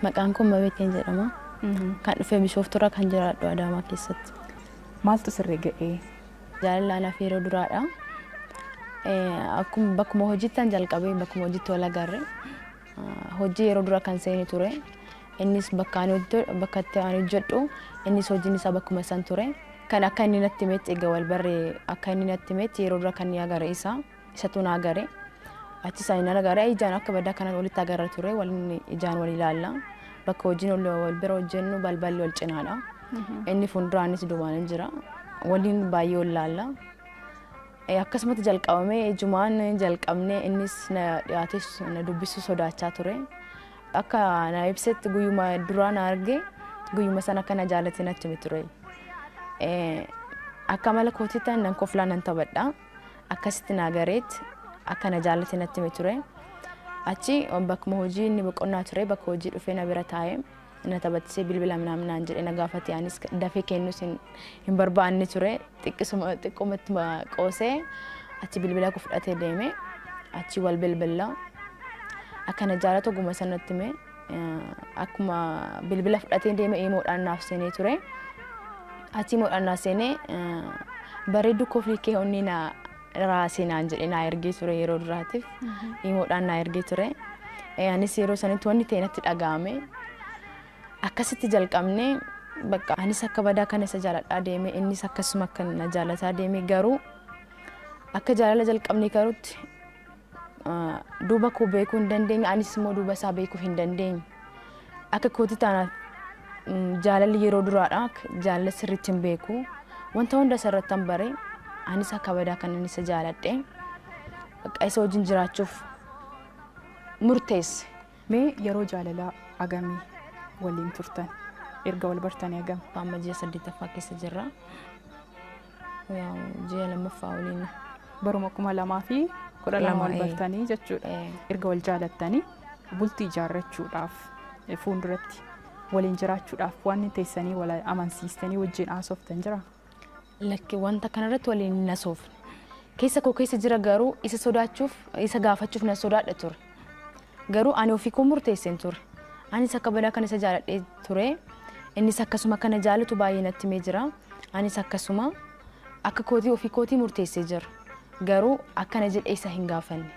Maqaan koo Mabeeteen jedhama. Kan dhufe Bishooftuurra kan jiraadhu Adaamaa keessatti. Maaltu sirri ga'ee? Jaalala anaaf yeroo duraadha. Akkuma bakkuma hojiittan jalqabee bakkuma hojiitti wal agarre. Hojii yeroo dura kan seene ture. Innis bakka ani hojjetu, bakka itti ani hojjedhu, innis hojiin isaa bakkuma san ture. Kan akka inni natti himetti egaa wal barre akka inni natti himetti yeroo dura kan ni agare isa. Isatu na agare. Achis ani nan agare ijaan akka badaa kanan walitti agarra ture waliin ijaan wal ilaalla. Bakka hojiin wal wal bira hojjennu balballi wal cinaadha. Inni fuulduraanis duubaanis jira. Waliin baay'ee wal ilaalla. Akkasumatti jalqabame. Ijumaan jalqabne innis na dhiyaatees na dubbisuu sodaachaa ture. Akka na ibsetti guyyuma duraa na arge guyyuma sana akka na jaalate natti hime ture. Akka mala kootitti nan koflaa nan taphadha. Akkasitti na gareetti akka na jaalate natti hime ture. Achi bakkuma hojii inni boqonnaa ture bakka hojii dhufee na bira taa'e. na taphachiisee bilbila minaamin naan jedhee na gaafate anis dafee kennus hin, hin barbaanne ture xiqqisuma xiqqumatti ma qoosee achi bilbila koo fudhatee deeme achi wal bilbilla akka na jaalatu oguma sanatti hime Eh, akkuma bilbila fudhatee deeme imoodhaan naaf seenee ture achi imoodhaan naaf seenee eh, bareedduu koo fiikee onnee na raasii naan jedhee naa ergee ture yeroo duraatiif imoodhaan naa ergee ture. Eh, Anis yeroo sanitti wanni ta'e natti dhaga'ame akkasitti jalqabne bakka anis akka badaa kana isa jaaladhaa deeme innis akkasuma akka na jaalataa deeme garuu akka jaalala jalqabne karutti duuba koo beekuu hin dandeenye anis immoo duuba isaa beekuu hin dandeenye akka kooti taana jaalalli yeroo duraadha jaalala sirriitti hin beeku wanta hunda isa irratti hin bare anis akka badaa kan inni isa jaaladhe bakka isa wajjin jiraachuuf murteesse. Mee yeroo jaalalaa agamii waliin turtan erga wal bartanii agam? Amma ji'a saddeettaffaa keessa jirra. Yaa'u ji'a lammaffaa waliin. Baruma kuma lamaa fi kudha lama Lama, wal ee. bartanii jechuudha. Ee. Erga wal jaalattanii bultii ijaarrachuudhaaf eh, fuulduratti waliin jiraachuudhaaf waan teessanii wal amansiistanii wajjin haasoftan jira. Lakki wanta kanarratti waliin hin hasoofne. Keessa koo keessa jira garuu isa sodaachuuf isa gaafachuuf na sodaadha ture. Garuu ani ofii koo murteesseen ture. Anis akka badaa kan isa jaaladhee ture. Innis akkasuma kana jaalatu baay'ee natti himee jira. Anis akkasuma akka kootii ofii kootii murteessee jira. Garuu akkana jedhee isa hin gaafanne.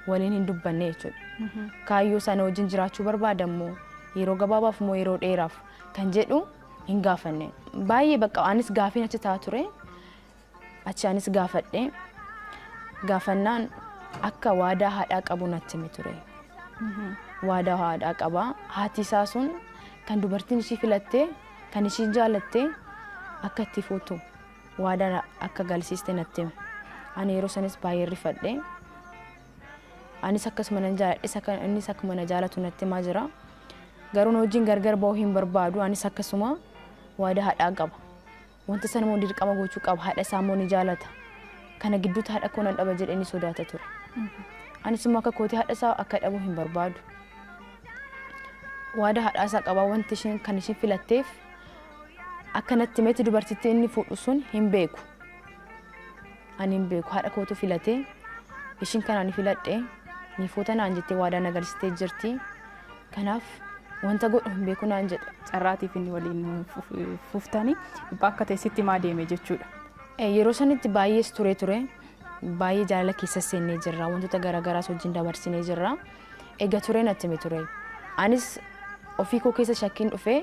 Waliin hin dubbanne jechuudha. Kaayyoo sana wajjin jiraachuu barbaada immoo yeroo gabaabaaf immoo yeroo dheeraaf kan jedhu hin gaafanne. Baay'ee bakka anis gaafiin achi ta'a ture. Achi anis gaafadhe. Gaafannaan akka waadaa haadhaa qabu natti hime ture. Waadaa haadhaa qaba. Haati isaa sun kan dubartiin ishii filattee Kan ishii jaalatte akka itti fuutu waadaa akka galsiiste natti hime. Ani yeroo sanis baay'een rifadhe. Anis akkasuma nan jaaladhes akka innis akkuma na jaalatu natti himaa jira. Garuu na wajjin gargar ba'uu hin barbaadu. Anis akkasuma waadaa hadhaa qaba. Wanta sana immoo dirqama gochuu qaba. Haadha isaa immoo ni jaalata. Kana gidduutti haadha koo nan dhaba jedhee ni sodaata ture. Anis immoo akka kootii haadha isaa akka dhabu hin barbaadu. Waada haadhaa isaa qabaa wanti ishiin kan ishiin filatteef akka natti himetti dubartittii inni fuudhu sun hin beeku. Ani hin beeku haadha kootu filatee ishiin kan ani filadhe niifoota naan jettee waadaa na galchitee jirti. Kanaaf wanta godhu hin beeku naan jedhe. Carraatiif inni waliin fuftani dhiphaa akka ta'e sitti himaa deeme jechuudha. Yeroo sanitti baay'ees turee ture. Baay'ee jaalala keessas seennee jirra. Wantoota garaagaraas wajjin dabarsinee jirra. Egaa turee natti hime ture. Anis ofii koo keessa shakkiin dhufee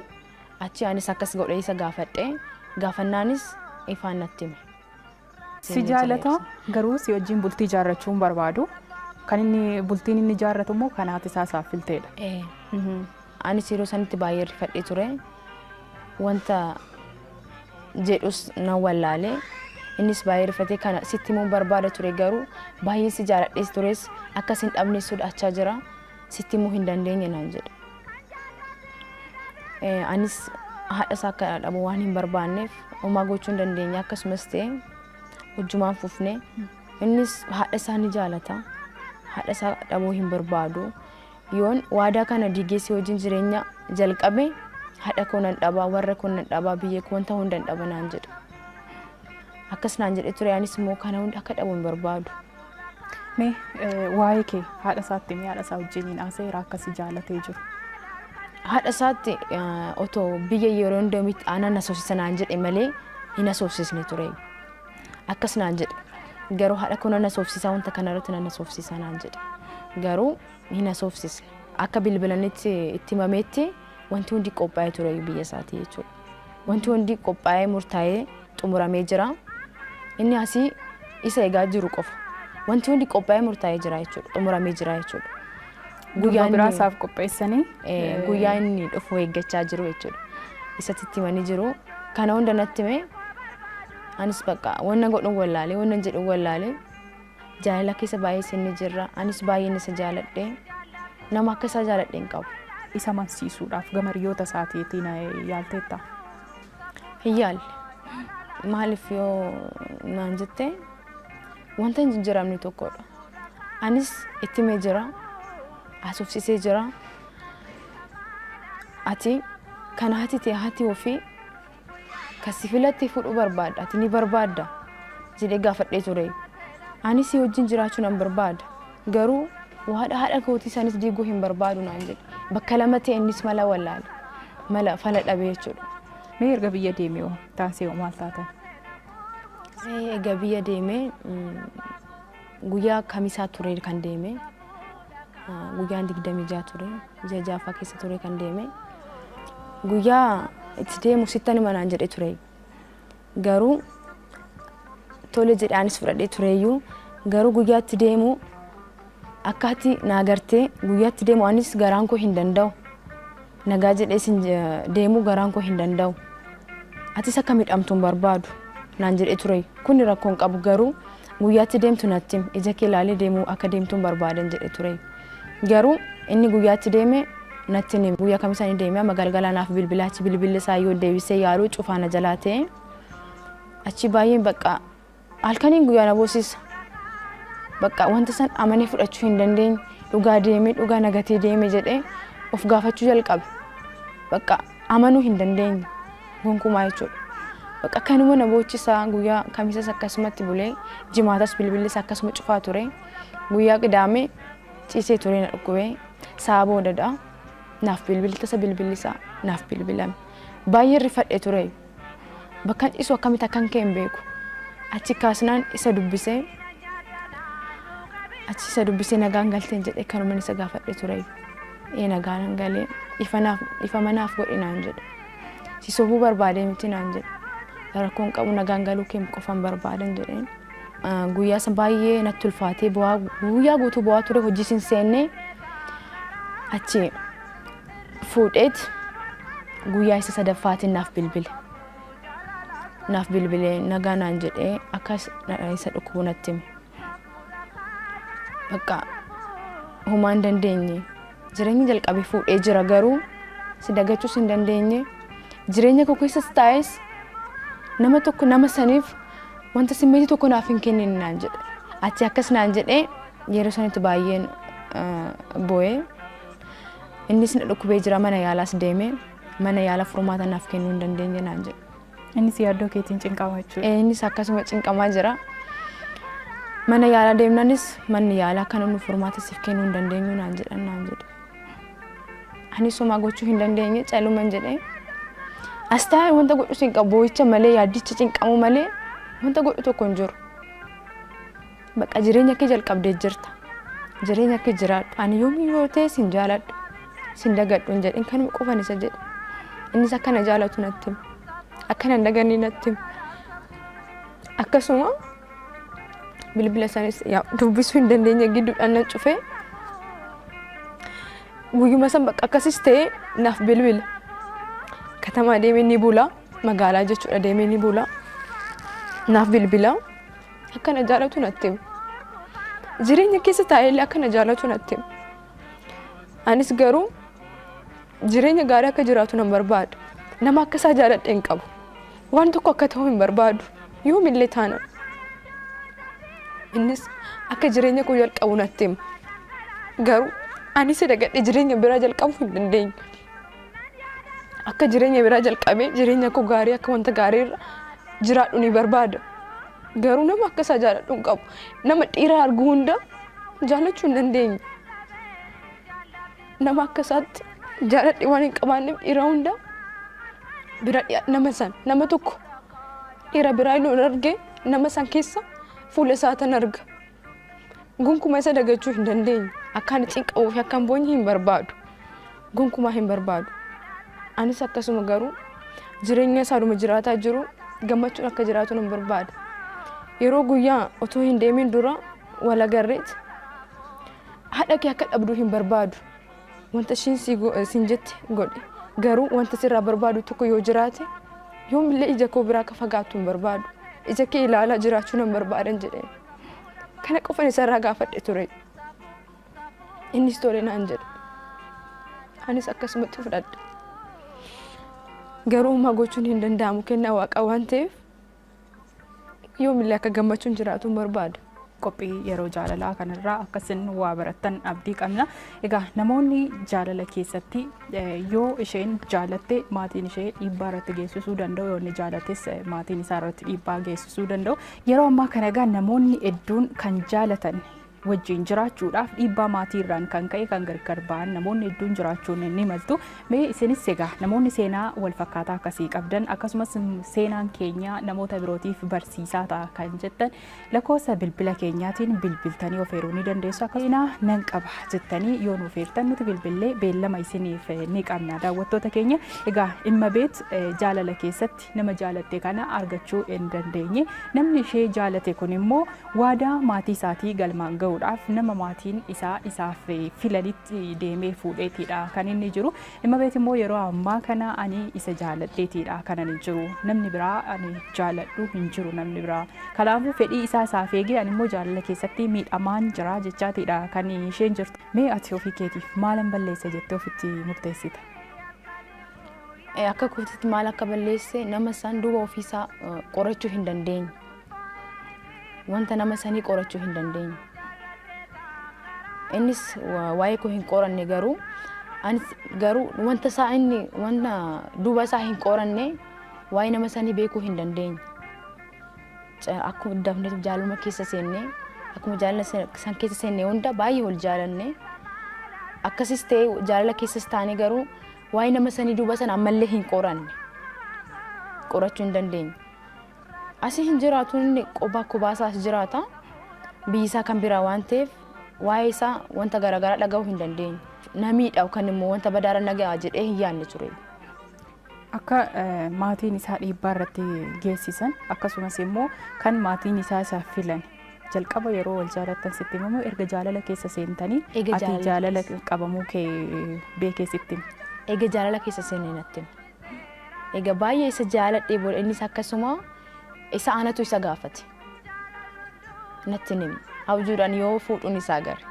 achii anis akkas godhee isa gaafadhe. Gaafannaanis ifaan natti hime. Si jaalata garuu si wajjin bultii ijaarrachuu hin barbaadu. Kan inni bultiin inni ijaarratu immoo kan haati isaa isaaf filteedha. Ee, Mhm. anis yeroo sanitti baay'ee rifadhee ture. Wanta jedhus nan wallaale. Innis baay'ee rifatee kana sitti himuun barbaada ture garuu baay'een si jaaladhees tures akka sin dhabne sodaachaa jira. sitti himuu hin dandeenye naan jedhe. Eh, Anis haadha isaa akka dhabu waan hin barbaanneef homaa gochuu hin dandeenye akkasumas ta'e hojjumaan fufne innis haadha isaa ni jaalata haadha isaa dhabuu hin barbaadu yoon waadaa kana diigeessee wajjin jireenya jalqabe haadha koo nan dhabaa warra koo nan dhabaa biyya koo wanta hundan dhaba naan jedhe akkas naan jedhe ture anis immoo kana hunda akka dhabu hin barbaadu. Mee waa'ee kee haadha isaatti mee haadha isaa wajjiniin haasa'eera akka si jaalatee jiru. Haadha isaatti otoo biyya yeroo hundamitti aanan asoosisa naan jedhe malee hin asoosisne ture. Akkas naan jedhe. Garuu haadha koo nan asoofsisaa wanta kana irratti nan asoofsisaa naan jedhe. Garuu hin asoofsisne. Akka bilbilanitti itti himameetti wanti hundi qophaa'ee ture biyya isaatii jechuudha. Wanti hundi qophaa'ee murtaa'ee xumuramee jira. Inni asii isa egaa jiru qofa. Wanti hundi qophaa'ee murtaa'ee jira jechuudha. Xumuramee jira jechuudha. Guyyaa biraa isaaf qopheessanii. Guyyaa inni dhufu eeggachaa jiru jechuudha. Isatti itti himanii jiru. Kana hunda natti hime. Anis bakka wanna godhu wallaalee wanna jedhu wallaalee. Jaalala keessa baay'ee seenne jirra. Anis baay'een isa jaaladhe. Nama akka isaa jaaladhe hin qabu. Isa amansiisuudhaaf gama hiriyoota isaatiitiin yaalteetta? Hin yaalle. Maaliif yoo naan jette wanta hin jijjiiramne tokkodha. Anis itti himee jira. Haasofsiisee jira. Ati kan haati ta'e haati ofii Ka si filatte fudhu barbaadda, ati ni barbaadda? jedhee gaafadhee ture. Anis si wajjin jiraachuu nan barbaada. Garuu waadha haadha kootii sanis diiguu hin barbaadu naan jedhe. Bakka lama ta'e innis mala wallaale. Mala fala dhabe jechuudha. Mee erga biyya deemee hoo taansee hoo maal taatan? Egaa biyya deemee guyyaa kamisaa ture kan deemee. guyyaan digdamii jaha ture ji'a jaaffaa keessa ture kan deeme guyyaa itti deemu sittan hima naan jedhe ture garuu tole jedhe anis fudhadhee tureeyyuu garuu guyyaa itti deemu akkaatti naa gartee guyyaa itti deemu anis garaan koo hin danda'u Nagaa jedhee sin deemuu garaan koo hin danda'u. Atis akka midhamtu hin barbaadu naan jedhee ture. Kuni rakkoo hin qabu garuu guyyaatti deemtu natti him ija kee ilaalee deemuu akka deemtu hin barbaadan jedhee ture. Garuu inni guyyaatti deeme natti him guyyaa kamisa ni deeme amma galgalaa naaf bilbilaachi bilbilli isaa yoo deebisee yaaluu cufaa na jalaa ta'e. Achi baay'een baqqaa Halkaniin guyyaa na boosisa. Bakka wanta san amanee fudhachuu hin dandeenye dhugaa deemee dhugaa nagatee deeme jedhee of gaafachuu jalqabe. Bakka amanuu hin dandeenye gonkumaa jechuudha. Bakka kanuma na boochisa guyyaa kamisas akkasumatti bulee jimaatas bilbilis akkasuma cufaa ture. Guyyaa qidaamee ciisee ture na dhukkubee sa'a boodadha. Naaf bilbiltasa bilbilisaa naaf bilbilame. Baay'ee rifadhe ture. bakkan ciisu akkamitti akkan ka'e hin beeku. Achi kaasnaan isa dubbisee achi isa dubbisee nagaan galteen jedhee kanuman isa gaafadhe ture. Ee nagaan galee ifanaaf ifamanaaf godhi naan jedhe. Si sobuu barbaadee miti naan jedhe. Rakkoon qabu nagaan galuu kee qofan barbaadan jedheen. Guyyaa san baay'ee natti ulfaatee bu'aa guyyaa guutuu bu'aa ture hojii sin seennee achi fuudheet guyyaa isa sadaffaatiin naaf bilbile. Naaf bilbilee nagaa naan jedhee akkas na- isa dhukkubu natti hime. Bakka homaa hin dandeenye. Jireenyi jalqabe fuudhee jira garuu si dagachuus hin dandeenye. Jireenya koo keessas taa'es nama tokko nama saniif wanta simmeetii tokko naaf hin kennin naan jedhe. Ati akkas naan jedhee yeroo sanitti baay'een eh, boo'ee Innis na dhukkubee jira mana yaalaas deeme mana yaala furmaata naaf kennuu hin dandeenye naan jedhe. Innis yaaddoo keetiin cinqamaa jechuudha. Eh, Innis akkasuma cinqamaa jira. Mana yaalaa deemnanis manni yaalaa kan inni furmaata siif kennuu hin dandeenyu naan jedhan naan jedhe. Anis homaa gochuu hin dandeenye caluman jedhee. As taa'ee wanta godhu sin qabu boo'icha malee yaaddicha cinqamuu malee wanta godhu tokko hin jiru. Baqa jireenya kee jalqabdee jirta. Jireenya kee jiraadhu. Ani yoomii yoo ta'e sin jaaladhu. Sin dagadhu hin jedhin kanuma qofan isa jedhe. Innis akka na jaalatu natti hima. Akka nan daganne natti hima. Akkasuma bilbila isaaniis yaa dubbisuu hin dandeenye gidduudhaan nan cufee guyyuma san bakka akkasis ta'e naaf bilbila. Katamaa deemee ni bula. Magaalaa jechuudha deemee ni bula. Naaf bilbila. Akka na jaalatu natti hime. Jireenya keessa taa'ellee akka na jaalatu natti hime. Anis garuu jireenya gaarii akka jiraatu nan barbaada. Nama akka isaa jaaladhe hin qabu. Waan tokko akka ta'u hin barbaadu. Yoomillee taana. Innis akka jireenya koo jalqabu natti hime. Garuu ani isa dagadhee jireenya biraa jalqabuu hin dandeenye. Akka jireenya biraa jalqabee jireenya koo gaarii akka wanta gaarii irra jiraadhu ni barbaada. Garuu nama akka isaa jaaladhu hin qabu. Nama dhiira argu hunda jaalachuu hin dandeenye. Nama akka isaatti jaaladhe waan hin qabaanneef dhiira hunda bira dhiya- nama san nama tokko dhiira biraa yoo arge nama san keessa fuula isaa tan arga. Gonkumaa isa dagachuu hin dandeenye. Akka ani cinqamuu fi akka hin boonye hin barbaadu. Gonkumaa hin barbaadu. Anis akkasuma garuu jireenya isaadhuma jiraataa jiru gammachuun akka jiraatu nan barbaada. Yeroo guyyaa otoo hin deemin dura wal agarreet haadha kee akka dhabdu hin barbaadu. Wanta ishiin sii go- siin jette godhi. Garuu wanta sirraa barbaadu tokko yoo jiraate, yoomillee ija koo biraa akka fagaattu hin barbaadu. Ija kee ilaalaa jiraachuu nan barbaadan jedheen. Kana qofan isarraa gaafadhe ture. Innis tole naan jedhe. Anis akkasumatti fudhadhe. Garuu homaa gochuun hin danda'amu kennaa waaqaa waan ta'eef yoomillee akka gammachuun jiraatuun barbaada. qophii yeroo jaalalaa kanarraa akkasin waa barattan abdii qabna. Egaa namoonni jaalala keessatti yoo isheen jaalatte maatiin ishee dhiibbaa irratti geessisuu danda'u yoo inni jaalates maatiin isaa irratti dhiibbaa geessisuu danda'u. Yeroo ammaa kana egaa namoonni hedduun kan jaalatan wajjiin jiraachuudhaaf dhiibbaa maatii irraan kan ka'e kan gargar ba'an namoonni hedduun jiraachuun ni maltu. Mee isinis egaa namoonni seenaa wal fakkaataa akkasii qabdan akkasumas seenaan keenya namoota birootiif barsiisaa ta'a kan jettan lakkoofsa bilbila keenyaatiin bilbiltanii of eeruu ni dandeessu. Akka seenaa nan qaba jettanii yoo nuuf eertan nuti bilbillee beellama isiniif ni qabna. Daawwattoota keenya egaa dhimma beet jaalala keessatti Nama jaalatte kana argachuu hin dandeenye. Namni ishee jaalate kun immoo waadaa maatii isaatii galmaan ga'uudhaaf nama maatiin isaa isaaf filanitti deemee fuudheetiidha kan inni jiru. Immabeet immoo yeroo ammaa kana ani isa jaaladheetiidha kanan hin jiru. Namni biraa ani jaaladhu hin jiru namni biraa. Kanaafuu fedhii isaa isaaf eegee ani immoo jaalala keessatti miidhamaan jira jechaatiidha kan isheen jirtu. Mee ati ofii keetiif maalan balleesse jettee ofitti murteessita? eh, akka kootitti maal akka balleesse nama san duuba ofiisaa eh, qorachuu hin dandeenye. Wanta nama sanii qorachuu hin dandeenye. Innis wa- waa'ee koo hin qoranne garuu anis garuu wanta isaa inni wanta duuba isaa hin qoranne waa'ee nama sanii beekuu hin dandeenye. Ca- Akkuma dafneetu jaaluma keessa seenne akkuma jaalala san- san keessa seenne hunda baay'ee wal jaalanne. Akkasis ta'e jaalala keessas taane garuu Waa'ee nama sanii duuba san ammallee hin qoranne. Qorachuu hin dandeenye. Asi hin jiraatu inni qobaa kobaa isaa as jiraata. Biyyi isaa kan biraa waan ta'eef waa'ee isaa wanta garaagaraa dhaga'uu hin dandeenye. Namiidha yookaan immoo wanta badaara nagaa jedhee hin yaadne ture. Akka eh, maatiin isaa dhiibbaa irratti geessisan akkasumas immoo kan maatiin isaa isaaf filan Jalqaba yeroo wal jaalattan sitti hima moo erga jaalala keessa seentanii Eega ati jaalala jaalala keessa. qabamuu kee beekee sitti hima? Eega jaalala keessa seenee natti hime. Egaa baay'ee isa jaaladhee booda innis akkasuma isa anatu isa gaafate. Natti hin himu. Abjuudhaan yoo fuudhuun isaa gare.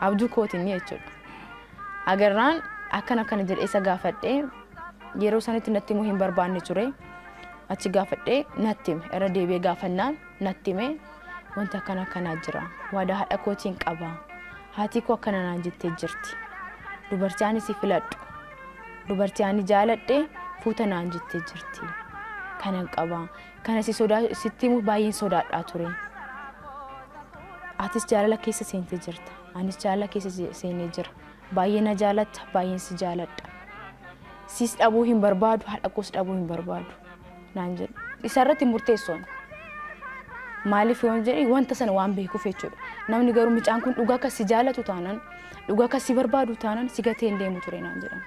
Abjuu kootiin jechuudha. Agarraan akkan akkana jedhe isa gaafadhee yeroo sanitti natti himuu hin barbaanne ture. Achi gaafadhee natti hime irra deebi'ee gaafannaan natti hime wanti akkana akkanaa jira. Waadaa haadha kootiin qaba. Haatii koo akkana naan jettee jirti. Dubartii ani si filadhu. Dubartii ani jaaladhe fuuta naan jettee jirti. Kanan qaba. Kana si sodaa sitti himuuf baay'een sodaadhaa ture. Atis jaalala keessa seentee jirta. Anis jaalala keessa je- seenee jira. Baay'ee na jaalatta, baay'een si jaaladha. Sis dhabuu hin barbaadu, haadha koos dhabuu hin barbaadu naan jedhe. Isa irratti hin murteessu ani. Maaliif yoon jedhe wanta sana waan beekuuf jechuudha. Namni garuu mucaan kun dhugaa akka si jaalatu taanaan Dhugaa kan si barbaadu taanan si gatee hin deemu ture naan jedhan.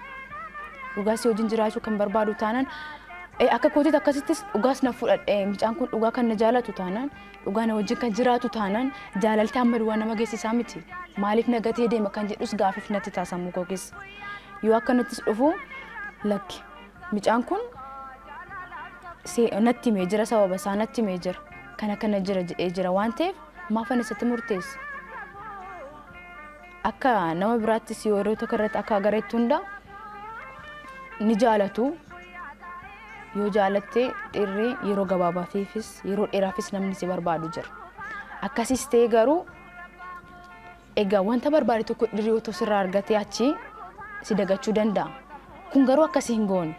Dhugaa si wajjin jiraachuu kan barbaadu taanan eh, akka kootiitti akkasittis dhugaas na fudhadhe mucaan kun dhugaa kan na jaalatu taanan dhugaa na wajjin kan jiraatu taanan jaalalti amma duwwaa nama geessisaa miti maaliif na gatee deema kan jedhus gaafiif natti taasamu koo keessa yoo akka nattis dhufu lakki mucaan kun se- natti himee jira sababa isaa natti himee jira kana kana jira jedhee jira waan ta'eef maafan isatti murteessa akka nama biraattis yeroo tokko irratti akka gareetti hunda ni jaalatu. Yoo jaalatte dhirri yeroo gabaabaatiifis yeroo dheeraafis namni si barbaadu jira. Akkasis ta'e garuu egaa wanta barbaade tokko dhirri otoo sirraa argatee achi si dagachuu danda'a. Kun garuu akkasii hin goone.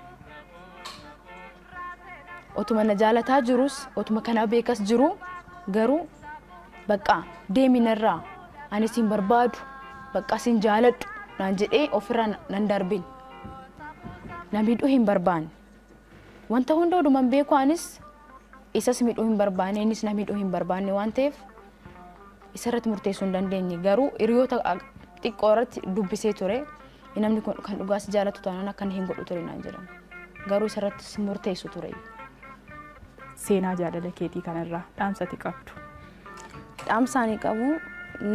Otuma na jaalataa jiruus, otuma kana beekas jiruu garuu baqqaa deemi narraa ani siin barbaadu baqqaa siin jaaladhu naan jedhee ofirraa nan darbin. Na miidhuu hin barbaanne. Wanta hunda oduman beeku anis isas miidhuu hin barbaanne innis na miidhuu hin barbaanne waan ta'eef isarratti murteessuu hin dandeenye garuu hiriyoota xiqqoo irratti dubbisee ture namni kun kan dhugaa si jaalatu taanaan akkana hin godhu ture naan jedhan garuu isarratti murteessu ture. Seenaa jaalala keetii kanarraa dhaamsa ati qabdu. Dhaamsa ani qabu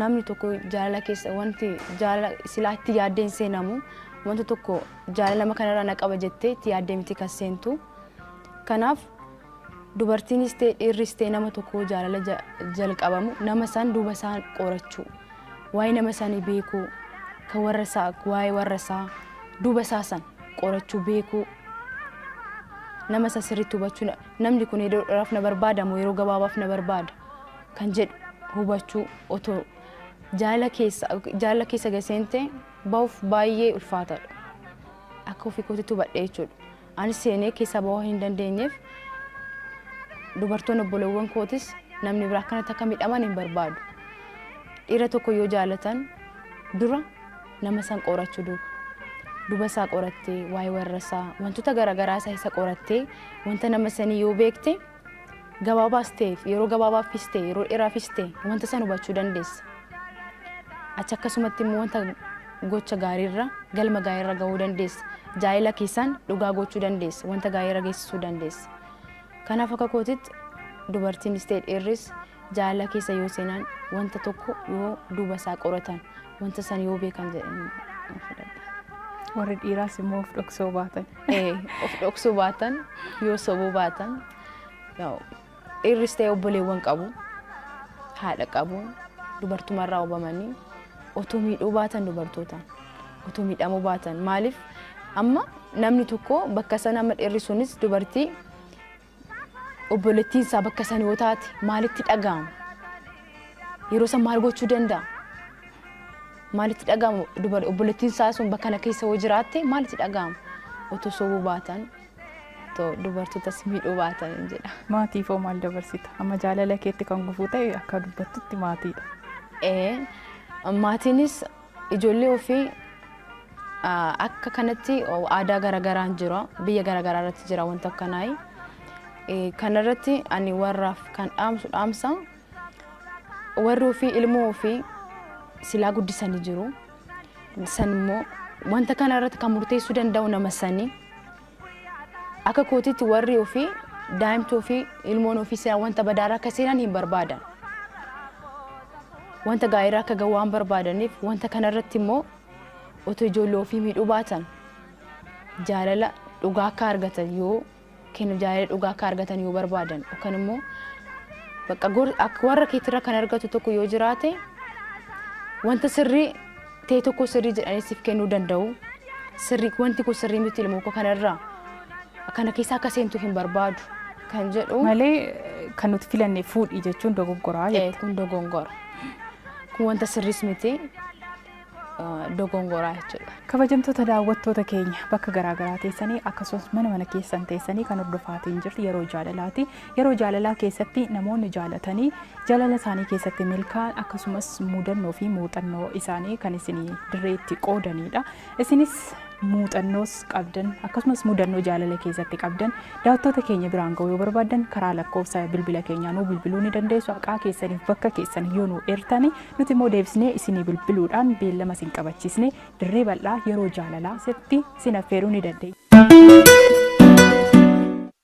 namni tokko jaalala keessa wanti jaalala silaa itti yaaddeen seenamu wanta tokko jaalala nama kanarraa na qaba jettee itti yaaddee miti kan seentu kanaaf Dubartiinis ta'e dhiirris ta'e nama tokko jaalala ja- jalqabamu nama san duuba isaa qorachuu waa'ee nama sanii beekuu kan warra isaa waa'ee warra isaa duuba isaa san qorachuu beekuu nama san sirriitti hubachuu na- namni kun yeroo dheeraaf na barbaada moo yeroo gabaabaaf na barbaada kan jedhu hubachuu otoo jaalala keessa jaalala keessa gaseentee bahuuf baay'ee ulfaataadha akka ofii kootitti hubadhee jechuudha. Anis seenee keessaa ba'uu hin dandeenyeef dubartoonni obboleewwan kootis namni biraa akkanatti akka midhaman hin barbaadu. Dhiira tokko yoo jaalatan dura nama san qorachuu duuba. Duba isaa qorattee, waa'ee warra isaa, wantoota garaagaraa isaa isa qorattee, wanta nama sanii yoo beekte, gabaabaas ta'e yeroo gabaabaafis ta'e yeroo dheeraafis ta'e wanta san hubachuu dandeessa. Achi akkasumatti immoo wanta gocha gaariirra galma gaariirra gahuu dandeessa. Jaalala keessaan dhugaa gochuu dandeessa. Wanta gaariirra geessisuu dandeessa. Kanaaf akka kootitti dubartiinis ta'e dhiirris Jaalala keessa yoo seenan, wanta tokko yoo duuba isaa qoratan, wanta san yoo beekan jedheen nan fudhadha. Warri dhiiraas immoo of dhoksoo baatan. Ee, of dhoksuu baatan, yoo sobuu baatan, yaa'u, dhiirris ta'e obboleewwan qabu, haadha qabu, dubartumarraa hubamanii, otoo miidhuu baatan dubartootaan, otoo miidhamuu baatan. Maaliif amma namni tokko bakka sana amma dhiirri sunis dubartii Obboleettiin isaa bakka san yoo taate maalitti dhaga'ama? Yeroo san maal gochuu danda'a? Maalitti dhaga'ama dubar obboleettiin isaa sun bakka kana keessa yoo jiraatte maalitti dhaga'ama? Otoo sobuu baatan otoo dubartootas miidhuu baatan hin jedha. Maatiif hoo maal dabarsita? Amma jaalala keetti kan gufuu ta'e akka dubbattutti maatiidha. Ee, maatiinis Ijoollee ofii akka kanatti aadaa garagaraan jira biyya garagaraa irratti jira wanta akkanaayi. Kanarratti ani warraaf kan dhaamsu dhaamsa warri ofii ilmoo ofii silaa guddisanii jiru. San immoo wanta kana irratti kan murteessuu danda'u nama sani. Akka kootitti warri ofii, daa'imti ofii, ilmoon ofii silaa wanta badaarra akka seenan hin barbaadan. Wanta gaariirra akka ga'u waan barbaadaniif wanta kanarratti immoo otoo ijoollee ofii miidhuu baatan jaalala dhugaa akka argatan yoo kennu jaalala dhugaa akka argatan yoo barbaadan yookaan immoo bakka warra keetirra kan argatu tokko yoo jiraate wanta sirrii ta'e tokko sirrii jedhanii siif kennuu danda'u. Sirrii wanti kun sirrii miti ilmoo koo kanarraa kana keessa akka seentu hin barbaadu kan jedhu Malee kan nuti filanne fuudhi jechuun dogoggoraa ta'e jette. kun dogongora. Kun wanta sirriis miti eh, dogongoraa jechuudha. Kabajamtoota daawwattoota keenya bakka garaagaraa teessanii akkasumas mana mana keessan teessanii kan hordofaatiin jirtu yeroo jaalalaati. Yeroo jaalalaa keessatti namoonni jaalatanii jaalala isaanii keessatti milkaa'an akkasumas mudannoo fi muuxannoo isaanii kan isin dirree itti qoodaniidha. Isinis muuxannoos qabdan akkasumas mudannoo jaalala keessatti qabdan daawwattoota keenya biraan ga'uu yoo barbaaddan karaa lakkoofsa bilbila keenyaa nuu bilbiluu ni dandeessu haqaa keessaniif bakka keessan yoo nuu eertani nuti immoo deebisnee isinii bilbiluudhaan beellama isin qabachiisne dirree bal'aa yeroo jaalalaa sitti isin affeeruu ni dandeenya.